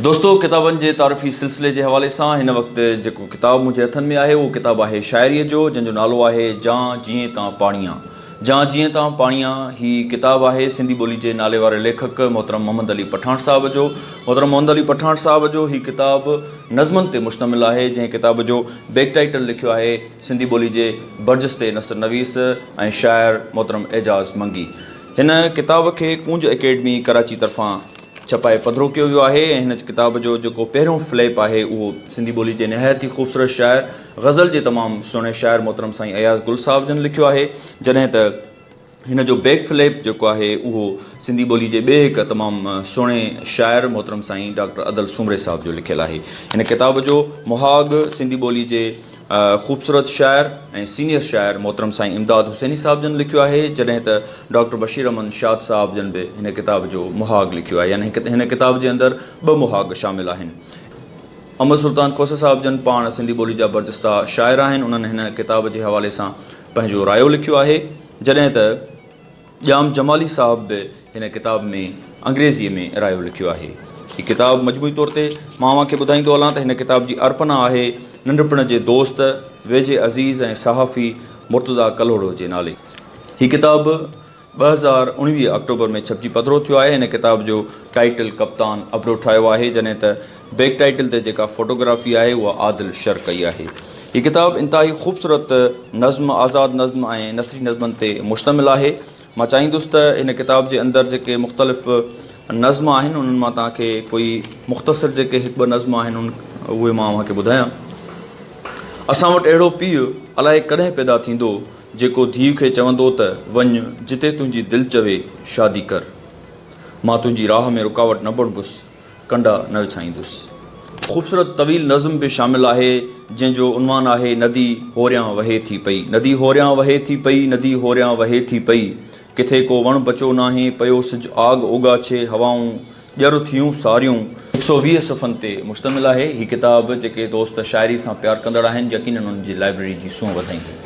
دوستو ڪتابن جي تعارفي سلسلي جي حوالي سان هن وقت جيڪو ڪتاب منهنجي هٿن ۾ آهي اهو ڪتاب آهي شاعريء جو جنهن جو نالو آهي جان جيئين تان پاڻيان جان جيئين تان پاڻيان هي ڪتاب آهي سنڌي ٻولي جي ناليواري ليکڪ محترم محمد علي پٺاڻ صاحب جو محترم محمد علي پٺاڻ صاحب جو هي ڪتاب نظمن تي مشتمل آهي جنهن ڪتاب جو بيڪ ٽائيٽل لکيو آهي سنڌي ٻولي جي برجسته نثر نويس ۽ شاعر محترم اعجاز منگي هن ڪتاب کي ڪونج اڪيڊمي ڪراچي طرفان ڇپائي پڌرو ڪيو ويو آهي ۽ هن ڪتاب جو جيڪو پهريون فليپ آهي اهو سنڌي ٻولي جي نهايت ئي خوبصورت شاعر غزل جي تمام سهڻي شاعر محترم سائين اياز گل صاحب جن لکيو آهي جڏهن ته هن جو بيڪ فليپ جيڪو آهي اهو سنڌي ٻولي جي ٻئي هڪ تمام سهڻي شاعر محترم سائين ڊاڪٽر ادل سومري صاحب جو لکيل آهي هن ڪتاب جو مهاڳ سنڌي ٻولي جي خوبصورت شاعر ۽ سينيئر شاعر محترم سائين امداد حسيني صاحب جن لکيو آهي جڏهن ته ڊاڪٽر بشير احمد شاد صاحب جن به هن ڪتاب جو مهاڳ لکيو آهي يعني هن ڪتاب جي اندر ٻه مهاڳ شامل آهن امر سلطان کوسه صاحب جن پاڻ سنڌي ٻولي جا برجسته شاعر آهن انهن هن ڪتاب جي حوالي سان پنهنجو رايو لکيو آهي جڏهن ته ڄام جمالي صاحب به هن ڪتاب ۾ انگريزيء ۾ رايو لکيو آهي. هي ڪتاب مجموعي طور تي، مان اوهان کي ٻڌائيندو هلان ته هن ڪتاب جي ارپنا آهي ننڍپڻ جي دوست، ويجهي عزيز ۽ صحافي مرتضيٰ ڪلهوڙو جي نالي. هي ڪتاب ٻه هزار اڻويهه آڪٽوبر ۾ ڇپجي پڌرو ٿيو آهي. هن ڪتاب جو ٽائيٽل ڪپتان ابڙو ٺاهيو آهي، جڏهن ته. بيڪ ٽائيٽل تي جيڪا فوٽوگرافي آهي اها عادل شر ڪئي آهي. هي ڪتاب انتهائي خوبصورت نظم، آزاد نظم ۽ نثري نظمن تي مشتمل آهي. مان چاهيندس ته هن ڪتاب جي اندر جيڪي مختلف نظم آهن انهن مان توهان کي ڪوئي مختصر جيڪي هڪ ٻه نظم آهن ان اهي مان اوهان کي ٻڌايان. اسان وٽ اهڙو پيء الائي ڪڏهن پيدا ٿيندو جيڪو ڌيء کي چوندو ته وڃ جتي تنهنجي دل چوي شادي ڪر. مان تنهنجي راهه ۾ رڪاوٽ نه بڻبس. ڪنڊا نه وڇائيندس. خوبصورت طويل نظم به شامل آهي، جنهن جو عنوان آهي، ندي هوريان وهي ٿي پئي، ندي هوريان وهي ٿي پئي، ندي هوريان وهي ٿي پئي، ڪٿي ڪو وڻ بچو ناهي، پيو سج آڳ اوڳاڇي، هوائون ڄر ٿيون ساريون. هڪ سؤ ويهه صفحن تي مشتمل آهي هي ڪتاب، جيڪي دوست شاعري سان پيار ڪندڙ آهن، يقينن انهن جي لائبريري جي سونهن وڌائيندو.